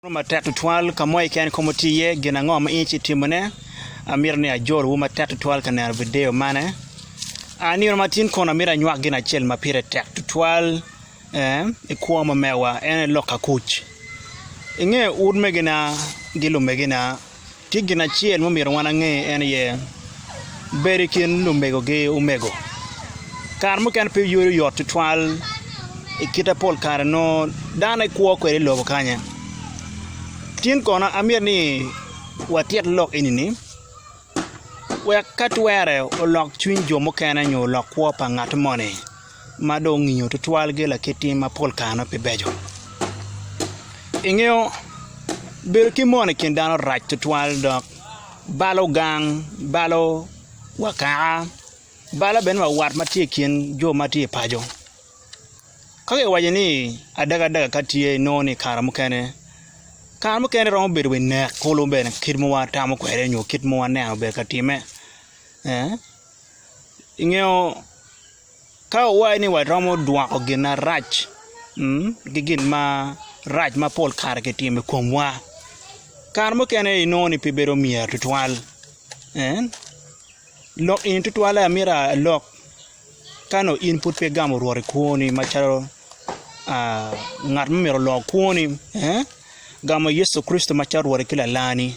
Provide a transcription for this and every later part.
Oro matek tutwal ka mo keken kong wuti iye, gin ango ma in ci itimone? Amito ni ajol wu matek tutwal ka neno video mane. A Nino matin kono amito anywak gin acel ma pire tek tutwal eh, i kwo ma mewa, en aye lok akuc. Inge ut megina gi lumegina, tye gin acel ma omyero wan ange en aye bedo i kin lumegogi omego kare mukene pe yweyo yot tutwal i kite pol kare nongo dano ekwo kwede i lobo kanya tin kono amyero ni watit lok eni ni wek ka twere olok cwiny jo mukene nyo olok kwo pa ngat moni. ma dong ongiyo tutwalgi lakit tim ma pol kare nongo pe beco. Ingeyo bedo ki mon i kin dano rac tutwal dok balo gang, balo wa kaka, balo bene wa wat ma tye i kin jo ma tye i paco. Ka kiwaco ni adagadaga ka tye inongo ni kare mukene, kare mukene romo bedo wa i nek kulu bene kit ma watamo kwede nyo kit ma waneno obedo ka timme ee. Ingeyo ka owaci ni waromo dwoko gin marac ki gin marac ma pol kare ki timo i komwa kare mukene i nongo ni pe bedo myero tutwal lok eni tutwalle amyero alok ka nongo in pud pe igamo rwot i kwoni macalo ngat ma myero olok kwoni gamo Yecu Kricito macalo rwotti ki lalani.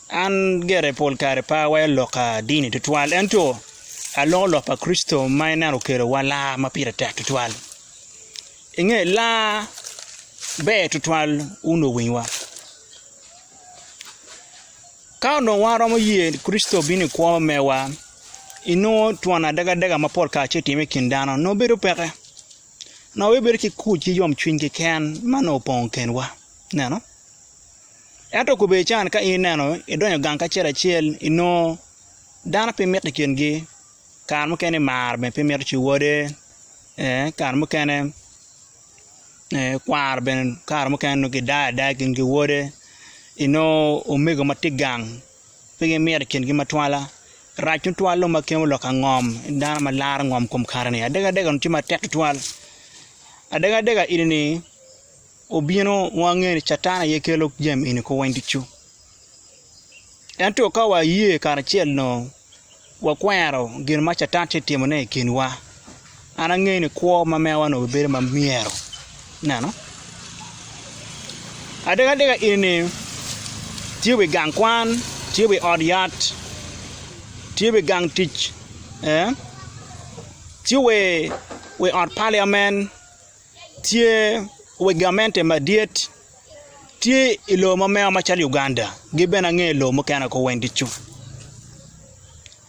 An gire pol kare pe aweyo lok ka dini tutwal ento aloko lok pa Kricito ma en neno okelowa laa ma pire tek tutwal. I nge laa ber tutwal wun luwinyiwa. Ka onongo wan waromo ye ni Kricito obino i kwo me mewa, inongo twon adagadega ma pol kare tye ka timme i kin dano nongo bedo peke. Nongo wabedo ki kuc ki yomcwiny keken ma nongo opong i kenwa. Ineno? Ento kobedi ican ka in ineno idonyo gang kacel acel inongo dano pe mito i kingi, kare mukene mar bene pe mito ci wode ee kare mukene kwaro bene kare mukene nongo gidayo adaya i kingi ki wode inongo omego ma tye i gang pe gimito i kingi matwala rac tutwal dong ma kemo lok angom dano ma laro ngom i kom kare-ni adega dega dong tye matek tutwal adega dega eni-ni obino wange ni Catan aye kelo jami eni kor weng ducu. Ento ka waye karacel dong wakwero gin ma Catan tye ka timone i kinwa, an angeyo ni kwo ma mewa onongo bibedo ma myero. Ineno? Adekadek eni tye wi gang kwan, tye wi ot yat, tye wi gang tic, tye wi ot paliamen. Tye weg gamente madit tye i lobo ma meno macalo Uganda gi bene ange lobo mukene woko Wendy cu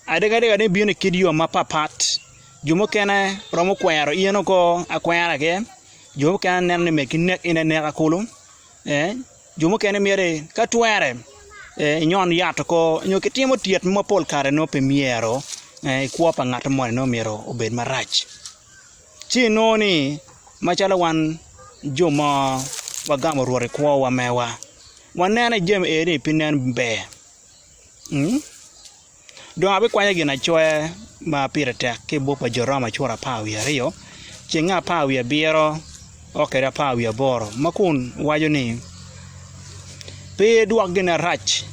adega dega ni bino i kit yo mapat pat jo mukene romo kwero in oko akwera aye jo mukene neno ni megi nek in aneka kulu jo mukene myero ni ka twere inyon yat oko nyo ki timo tyet mo mapol kare nongo pe myero ikwo pa ngat moni nongo myero obed marac. Ci inongo ni, macalo wan jo mo wagamo Rwot i kwowa mewa, waneno i jami eni pi nen ber. Dong abikwanyo ginacoya ma pire tek ki i buk pa Jo Roma cura apar wiye aryo ceng apar wiye abiro. o kede apar wiye aboro ma kun waco ni, Pe idwok gin arac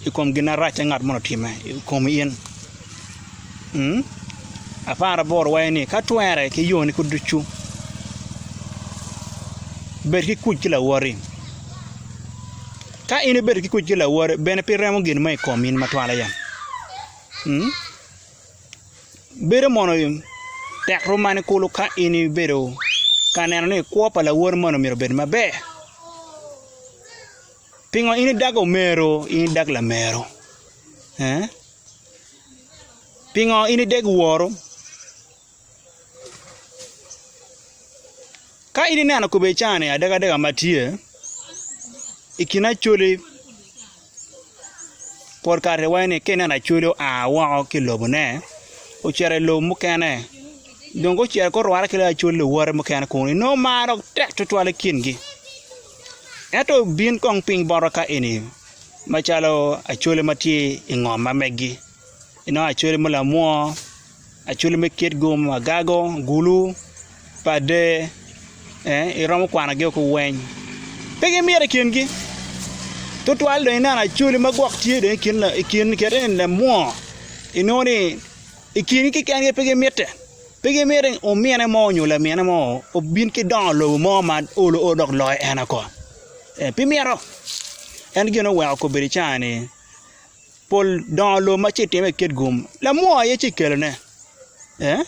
i kom gin arac ma ngat moni otimme i komi in. Apar aboro waco ni, Ka twere ki yoni kit ducu, bed ki kuc ki lawoti. Ka in ibedo ki kuc ki lawoti, bene pe iremo gin mo i kom in matwal aye. Bedo mono tek rom mani kulu ka in ibedo ka neno ni kwo pa lawoti moni myero obed maber? Pingo in idago omero in idag lamero? Pingo in ideg woru? Ka in ineno kobedi caa-ni adekadek ma tye i kin Acholi pol kare iwaci ka ineno Acholi oa woko ki i lobone ocito i lobo mukene dong ka ocito ka orwate ki loyo Acholi luwote mukene kunu inongo mar dok tek tutwal i kingi ento bin kong piny bota ka eni macalo Acholi ma tye i ngom ma megi inongo Acholi ma lamwoo. Acwali me kit gomo, agago, gulu, pade, ee, iromo kwanogi woko weny. Pe gimito i kingi. Tutwal dong ineno acwali ma gwok tye dong i kin la i kin kite ni lamwongo, inongo ni i kingi keken-ni pe gimitte. Pe gimiti ni omine mo nyo lamine mo obin ki dongo i lobo mo ma olo olo dok loyo en oko. Ee, pe mito. En gin oweko kobedi caa-ni. Pol dongo lobo ma ci time kit gum, lamwoo aye ci kelone. Eh?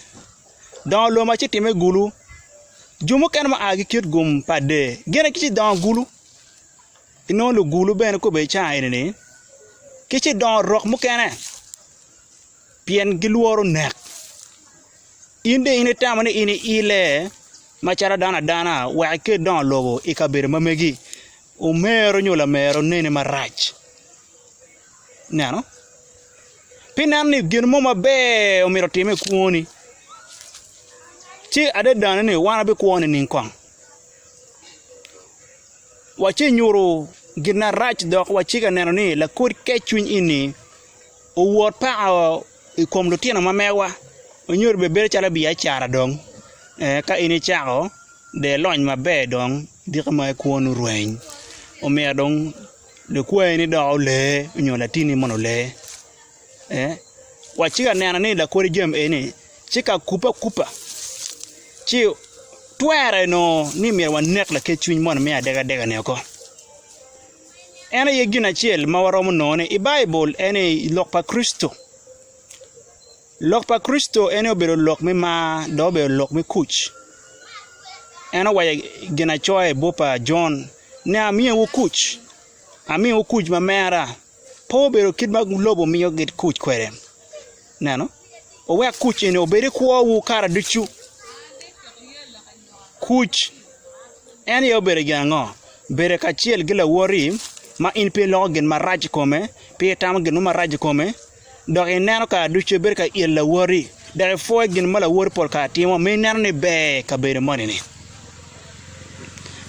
Dongo lobo ma ci time gulu, jo mukene ma aa ki kit gum pa dee, gin aye ci dongo gulu. Inongo lugulu bene kobbe i caa eni-ni, ki ci dongo rok mukene, pien gilworo nek. In dong in itamo ni in iile macalo dano adana wek ikel dongo lobo i kabedo ma megi? Omero nyo lamera onene marac. Ineno? Pi nen ni gin mo maber omyero otimme i kwoni. Ci adadane ni wan wabikwo nining kong? Wace nyuto gin marac dok wacika neno ni lakod kecwiny eni owot paka i kom lutino ma mewa nyo dong bedo calo biacara dong ee ka in icako dong ilony maber dong. Diki ma i kwonu rweny. Omiya dong likwayi ni dok olee nyo latini mono olee. Eh? Wa ci ka neno ni lakodi jami eni ci ka kupe akupa ci twere no ni myero wanek lakec cwiny mono me adega adega ni oko. En aye gin acel ma waromo nongo ni i Baibul en ni i lok pa Kricito. Lok pa Kricito en aye obedo lok me mar dok obedo lok me kuc. En owaco i ginacoya i buk pa Jon ni, Amiyowu kuc, amiyowu kuc ma mera, pe obedo kit ma lobo miyo kuc kwede. Ineno? Wuwek kuc eni obed i kwowu kare ducu. Kuc en aye obedo gin ango? Bedo kacel ki lawoti ma in pe iloko gin marac i kome, pe itamo gin mo marac i kome. dok ineno kare ducu ibedo ka il lawoti, dok ipwoyo gin ma lawoti pol kare timo, ma ineno ni ber i kabedo moni-ni.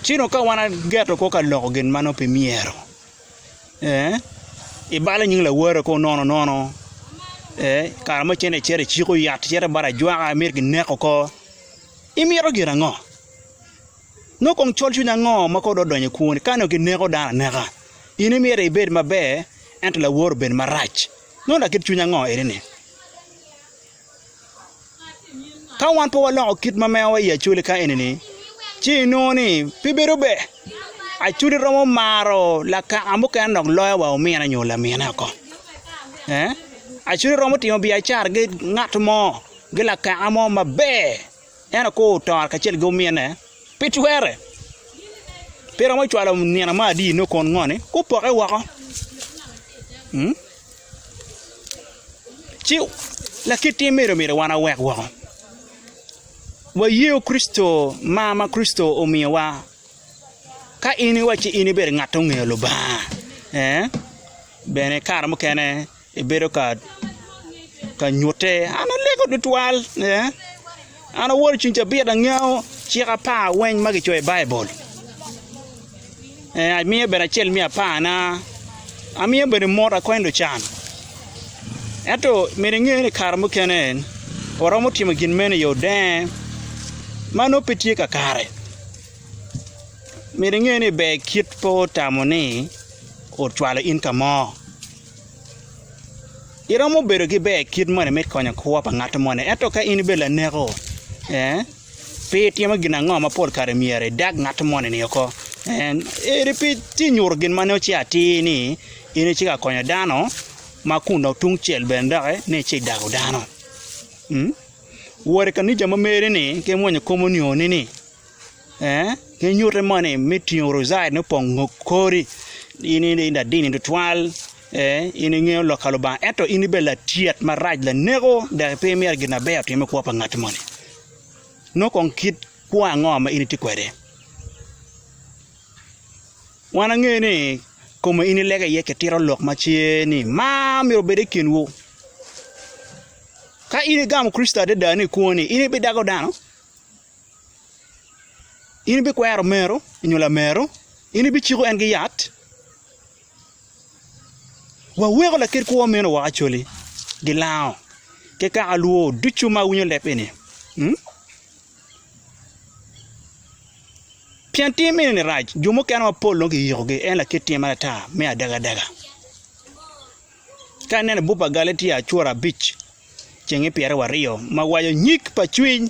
Ci dong ka wan ageto kwo ka loko gin ma nongo pe myero, ee, ibalo nying lawote kwo nono nono, ee, i kare ma icito acita iciko yat icito bot ajwaka imito kineko oko, imito gin ango? Nongo kong colcwiny ango ma kong odonyo i kwoni? Ka nongo kineko dano aneka, in imyero ibed maber, ento lawor obedo marac. Nongo lakit cwiny ango eni-ni? Ka wan pe waloko kit ma mewa i acoli ka eni-ni, ci inongo ni pe bedo ber. Acoli romo maro lakaka mukene dok loyo wa omine nyo lamine oko. Acoli romo timo biacara ki ngat mo, ki lakaka mo maber. En okwo otoro kacel ki omine pi twerre. Pe romo cwalo nino ma adi nongo kon ngoni gupoke woko. Ci lakit tim mene myero wan wawek woko. Wayeu Kricito mar ma Kricito omiyowa. Ka in iwaco ci in ibedo ngat ma ongeyo Lubanga, bene kare mukene Ebedo ka ka nyutte, an alego tutwal. Yeah. An awoto cung cabit angeyo cik apar weng ma kicoyo i Baibul. Eh, amiye bene acel me aparna. Amiye bene mot akonyo lucan. Ento myero inge ni kare mukene waromo timo gin meno i yo denge ma nongo pe tye kakare. Myero inge ni ber kit pe otamo ni ocwalo in ka mo. Iromo bedo ki ber kit moni me konyo kwo pa ngat moni? Ento ka in ibedo laneko, pe itimo gin ango ma pol kare myero idag ngat moni oko? Eri pe itye ka nyuto gin ma nongo ce atir ni in itye ka konyo dano ma kun dong tungcel bene doki ni ici idago dano? Wot i kanisa ma meri-ni ki imwonyo kom onyo-ni. Gin nyutte moni me tingo lucaden me pongo ngo kori in i ladini tutwal ee in ingeyo lok pa Lubanga ento in ibedo latyet marac laneko dok pe imito gin maber otim i kwo pa ngat moni nongo kong kit kwo ango ma in itye kwede wan angeyo ni kome in ilego iye kitito lok ma ce ni mar myero obed i kinwu ka in igamo Kricito adada ni kwoni in ibidago dano? In ibikwero meru nyo lameru? In ibiciko en ki yat? Waweko lakit kwo meno woko Acholi, gilango ki kaka lwo ducu ma winyo leb eni. Pien tim eni-ni rac, jo mukene mapol dong kiyikogi, en lakit tim man ata me adagadaga. Ka ineno buk pa Galatia acura abic cenge pyera wa aryo ma waco nyig pa cwiny,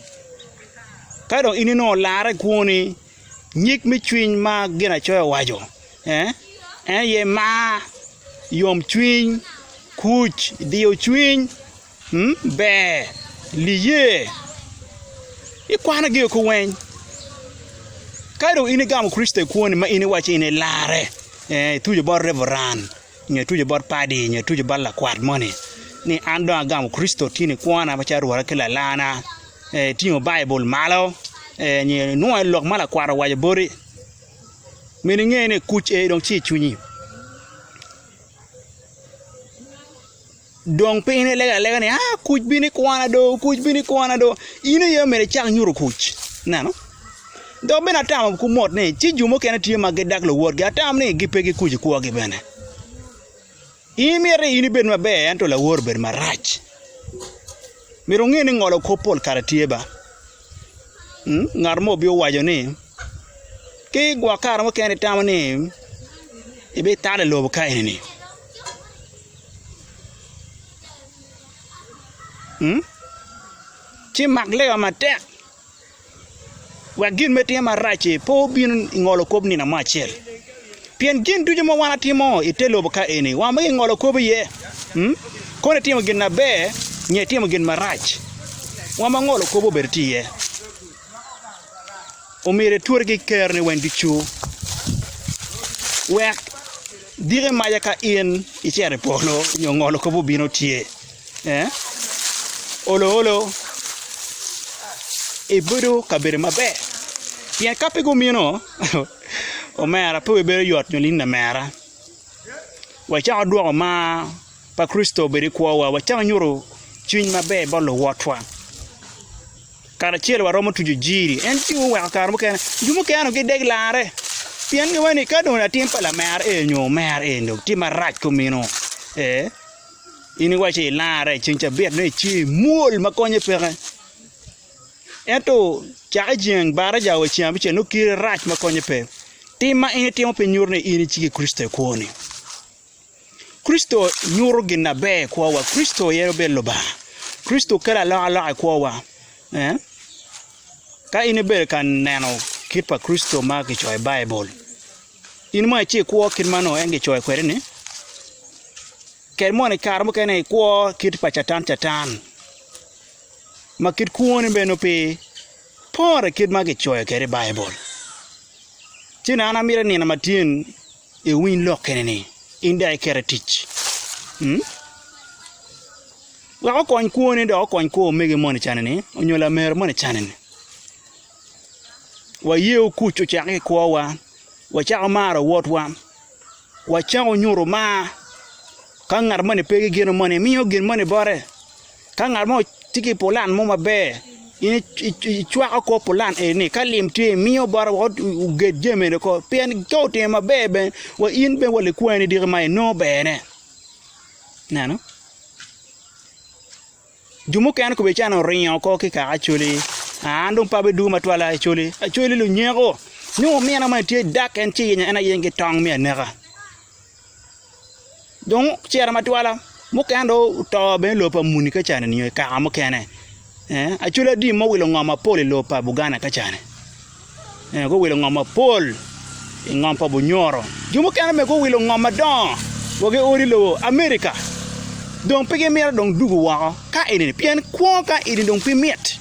ka dong in inongo olarre i kwoni, nyig me cwiny ma Ginacoya owaco en aye mar, yomcwiny, kuc, diyo cwiny, ber, liye. Ikwanogi woko weng. Ka dong in igamo Kricito i kwoni ma in iwaco ni in ilarre, ituco bot Reveran. Nyo tuco bot padi, nyo tuco bot lakwat moni ni an dong agamo Kricito tye nikwona macalo Rwotta ki Lalana. Itingo Baibul malo, nyo inwongo aye lok ma lakwat owaco boti. Myero inge ni kuc eni dong tye i cwinyi. Dong piny ne lego alega ni, aa, kuc bino ikwana do, kuc bino ikwana do. In aye omyero icak nyuto kuc. Ineno? Dok bene atamo ku mot ni ci jo mukene tye ma gidak luwotgi, atam ni gi pe gikuc i kwogi bene. In mito ni in ibed maber ento lawor obed marac. Myero wunge ni ngolo kop pol kare tye ba. Mm, ngat mo obin owaco ni, ki gwok kare mukene itamo ni ibitalo i lobo ka enini. Ci mak lewa matek, wek gin ma itimo marac-ci pe obin i ngolo kop nino mo acel. Pien gin ducu ma wan watimo i te lobo ka eni, wan weng ingolo kop iye. Kono itimo gin maber nyo itimo gin marac, wan ma ngolo kop obedo tye iye. omyero iturgi i Ker-ni weny ducu, wek diki maca ka in icito i polo nyo ngolo kop obino tye, olo olo ibedo kabedo maber. Pien ka pe gumino, omera pe wibedo yot nyo nining omera? Wacak wadwoko mar. pa Kricito obed i kwowa, wacako nyuto cwiny maber bot luwotwa. Karacel waromo tuco jiri. En ci oweko kare mukene, jo mukene onongo gideg larre pien giwaco ni ka dong latin pa lamer eni nyo omer eni dong tye marac ki omino. Ee, in iwaco ni ilarre ceng cabit dong ice imwol ma konnye peke. Ento cake jeng baracawa wa i ceng abicel nongo kite rac ma konnye pe. Tim ma in itimo pe nyuto ni in iciki Kricito i kwoni. Kricito nyuto gin na ber i kwowa. Kricito aye obedo Lubanga. Kricito kelo alokaloka i kwowa. Eh? Ka in ibedo ka neno kit pa Kricito ma kicoyo i Baibul, in mono ici ikwo kit ma nongo en kicoyo kwede-ni? Kadi mono i kare mukene ikwo kit pa Catan Catan, ma kit kwoni bene nongo pe pore kit ma kicoyo kwede i Baibul. Ci nano amito i nino ma tye-ni, Iwiny lok kene ni in dok ikete i tic. Hmm? Wek okony kwone dok okony kwo omege moni canini onyo lamero moni canini. Waye okuc ocako ki kwowa, wacako maro wotwa, wacako nyuto mar ka ngat moni pe ki gino moni, imiyo gin moni bote. Ka ngat mo tye ki pulan mo maber, in icwako kor pulan eni-ni ka lim tye imiyo bot woko oged jami eni woko pien ka otimo maber bene wa in bene wa likwene diki ma inongo bene, ineno? Jo mukene kobedi calo oringo oko ki i kaka Acholi aa an dong pe abidwogo matwal a Acholi, Acholi lunyeko nyo omine mo ni tye i dak en ci yenyo en ayenyo ki tong me aneka. Dong ocito matwala mukene dong oto bene i lobo pa muni ka cani nio i kaka mukene acwalo adi ma owilo ngo mapol i lobo pa Buganda ka cani guwilo ngo mapol i ngom pa bunyoro jo mukene bene guwilo ngo madongo wa giodo i lobo America dong pe gimito dong dugu woko ka eni ni pien kwo ka eni dong pe mit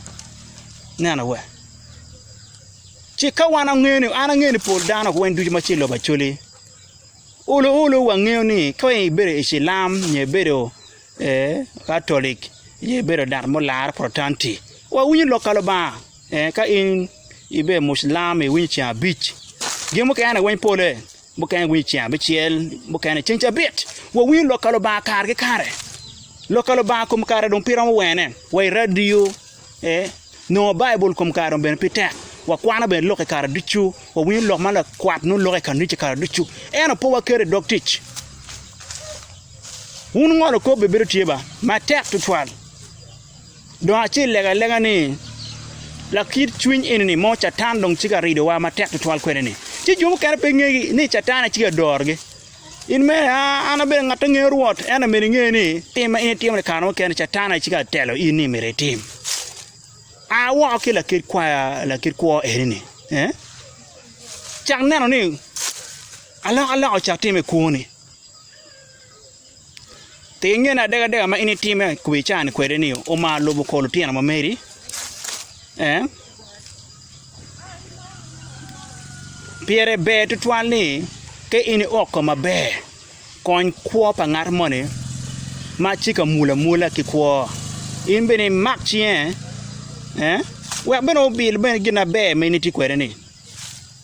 neno wa ci ka wan angeyo ni an angeyo ni pol dano weng ducu ma tye i lobo Acholi Ulu ulu wangeyo ni ka wai ibedo i cilam nyo ibedo katolic nyo ibedo dat mo lar protanti wawinyo lok ka lubanga ka in ibedo mucilam iwinyo ceng abic gin mukene weng pole mukene iwinyo ceng abicel mukene ceng cabit wawinyo lok ka lubanga kare ki kare lok ka lubanga kom kare dong pe iromo wene wa i radio Ee, nongo Baibul kom kare obedo pe tek. Wakwano bene lok i kare ducu, wawinyo lok ma lakwat nongo loko i kanica i kare ducu, ento pe waketo i dog tic. Wun ngolo kop bibedo tye ba matek tutwal. Dong acel lega alega ni, lakit cwiny eni-ni mo Catan dong tye ka ridowa matek tutwal kwede-ni, ci jo mukene pe ngegi ni Catan aye tye ka dorogi. In mere, an abedo ngat ma ngeyo Rwot, ento myero inge ni, tim ma in itimo-ni kare mukene Catan aye cito atelo in ni myero itim. A woko ki lakit kwaya, lakit kwo eni-ni. Cak neno ni alokaloka ocako timme i kwoni. Pe inge ni adekadeka ma in itime i kobo ica-ni kwede-ni omaro lubo kor lutino ma meri? Pire ber tutwal ni ka in iwok kom maber, kony kwo pa ngat moni ma tye ka mulo amula ki kwo. In bene imak cinge wek bene obil gin maber ma in itye kwede-ni.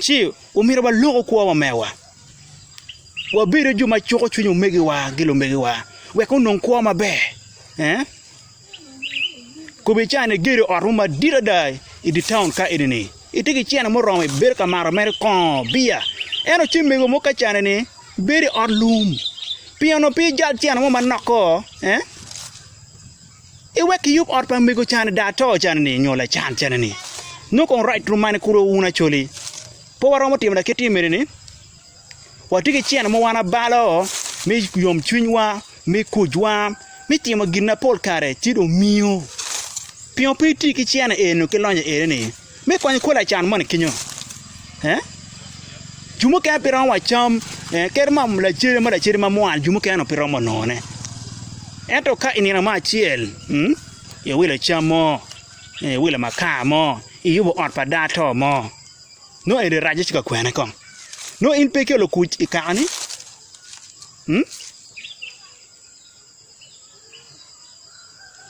Ci omyero walok kwowa mewa, wabedo jo ma cuko cwiny omegiwa ki lumegiwa wek onong kwo maber. Kobo i caa ni igedo ot mo madit ada i dye taun ka eni, itye ki cene muromo ibedo ka mato mere kongo, biya. Ento ci omego mo kacane ni bedo i ot lum. Pingo onongo pe ijal cene mo manok ko? I wek kiyub ot pa mego cani da ato cani ni nyo lacan cani ni nongo kong rac rum mane kuro wun acoli pe waromo timo lakit ni mene ni watye ki cene mogo wan abalo me yom cwiny wa me kuc wa me timo gin mapol kare ci dong miyo pingo pe iti ki cene eni nyo ki lonyo eni ni Me konyo kwo lacan moni kinyo, jo mukene pe romo wa cam, kadi mono lacede mo lacede ma mwana jo mukene onongo pe romo nongone. Ento ka i nino mo acel iwilo cam mo, iwilo makar mo, iyubo ot pa dano ato mo, nongo eni racce ci ka kwene kong? Nongo in pe iolo kuc i kakani?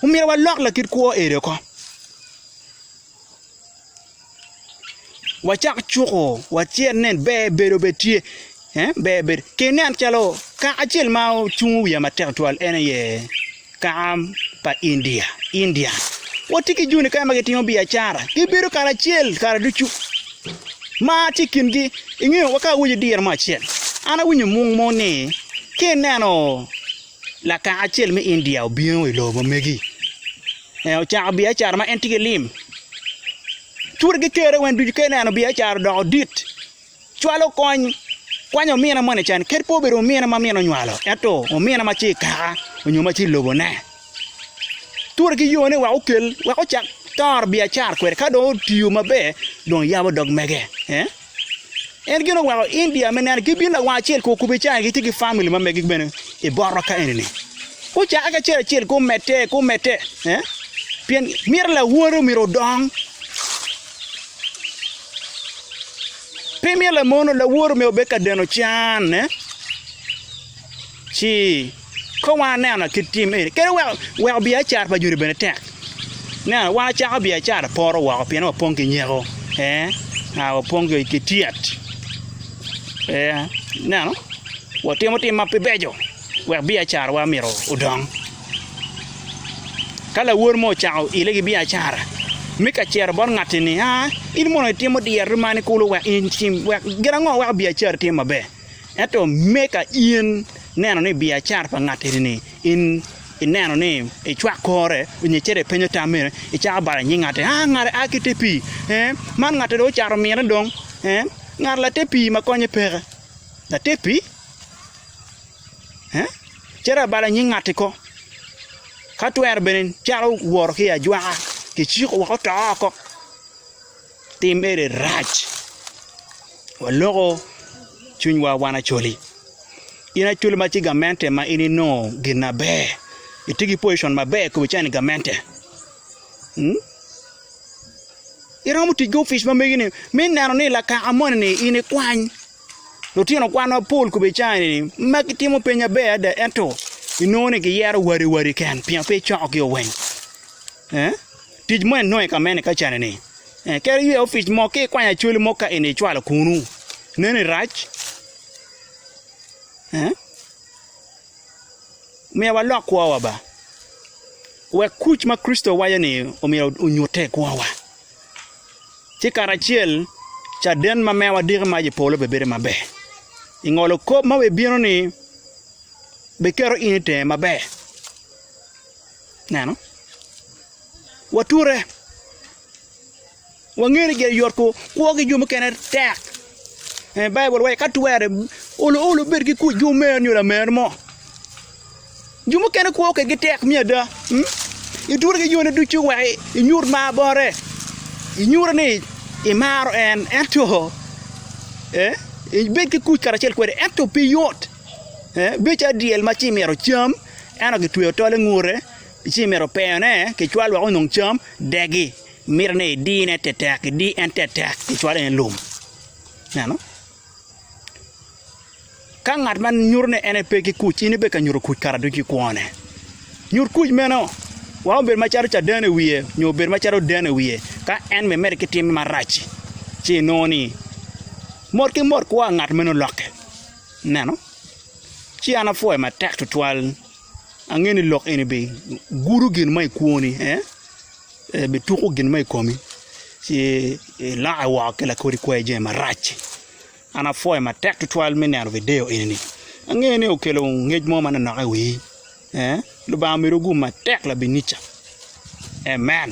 Omyero walok lakit kwo eni oko, wacak cuko wacel ni ber bedo bene tye, ber bedo ki inen calo kaka acel ma ocungo wiye matek tutwal en aye kaka pa India, Indian, watye ki joni kany ma gitimo biacara, gibedo kare acel kare ducu. Mar tye i kingi. I nge wa ka awaco dire mo acel, an awinyo mung mo ni ka ineno lakaka acel me India obino i lobo ma megi, en ocako biacara ma en tye ki lim, cura ki kere weng ducu ka ineno biacara odoko dit, cwalo kony, kwanyo omine moni can, kadi pe obedo omine ma mine onywalo, ento omine ma tye i kaka onyo ma tye i lobone. Ture ki yone wek okel wek ocak toro biacara kwede ka dong otiyo maber dong yabo dog mege. En gin oweko India me neno ki bino lawang acel ku okubi cani gitye ki family ma megi bene i botwa ka eni ni. Gucake ki acel acel ku mete ku mete pien mito lawore omyero odong pe mito lamono lawore omyero obed ka deno can. Ci, kong waneno kit tim eni kadi weko weko biacara pa Juda bene tek. Ineno, wan wacako biacara poto woko pien wapong ki nyeko, ee, aa, wapong ki tyet, ee, ineno, watimo tim ma pe beco wek biacarawa myero odong. Ka lawor mo ocako ile ki biacara, mi ka cito bot ngatti ni, aa, in mono itimo dyerri mani kulu wek in tim, wek, gin ango weko biacarri tim maber? Ento me ka in ineno ni biacara pa ngat eni-ni in ineno ni icwak kore nyo icito ipenyo tam mere, icako balo nying ngatte, 'A, ngati a ki te pii. Ee, man ngatti dong ocato mine dong. Ee, ngat late pii ma konye peke. Late pii? Ee, cito abalo nying ngatti ko. Ka twero bene calo woro ki i ajwaka, kiciko woko to oko. Tim eni rac. Waloko cwinywa wan acoli. In acoli ma ci gamente ma in inongo gin na ber. Itye ki position ma ber kobo cani gamente. Hmm? Iromo tic ki ofic ma megi ni mi neno ni lakaka moni ni in ikwany lutino kwan ma pol kobo cani ni ma gitimo piny na ber ada ento inongo ni giyero wari wari ken pingo pe icoko gi oweng. Tic mo inongo i ka mene ka cani ni. Kadi ywe opic mo ki kwanya cwali mo ka eni icwalo kunu. Neno i rac. Myero wa lok kwo wa ba. Wek kuc ma Kricito waco ni omyero onyute i kwo wa. Ci kare acel caden ma mewa diki mac i polo be bedo ma ber. I ngolo kop ma wi bino ni be keto in itenge ma ber. Neno, wature, wangeyo ni gire yot kwo ki jo mukene tek. Eh, Baibul wacho ka twere olo olo bed ki kuc ki omer nyo lamer mo. Jo mukene kwo kedgi tek me ada. mm? Iture ki yone ducu wek i- inyut mar bore. Inyute ni imaro en ento eh, ibed ki kuc karacel kwede ento pe yot. Eh, bedo calo dyel ma ci imito cam Ento gitweyo tol i ngute, ci imito peyone kicwal wek onong cam, degi. Mito ni idine tetek, idi en tetek, kicwale ni lum. Neno? Ka ngat ma nyuto ni en pe ki kuc, in ibe ka nyuto kuc kara ducu i kwone. Nyut kuc meno, wek obed macalo caden i wiye, nyo obed macalo oden i wiye, ka en bene medi ki timme marac-ci, ci inongo ni mot ki mot kwa ngat meno lokke. Neno, ci an apwoyo matek twatwal. Angeyo ni lok eni bigudo gin ma ikwoni, bituko gin ma i komi, ci ilokke woko ki lakodi kwer jami marac-ci. An apwoyo matek twatwal me neno video eni-ni. Angeyo ni okelo ngec mo manonok i wii. Lubanga omedo gum matek labinica. Amen.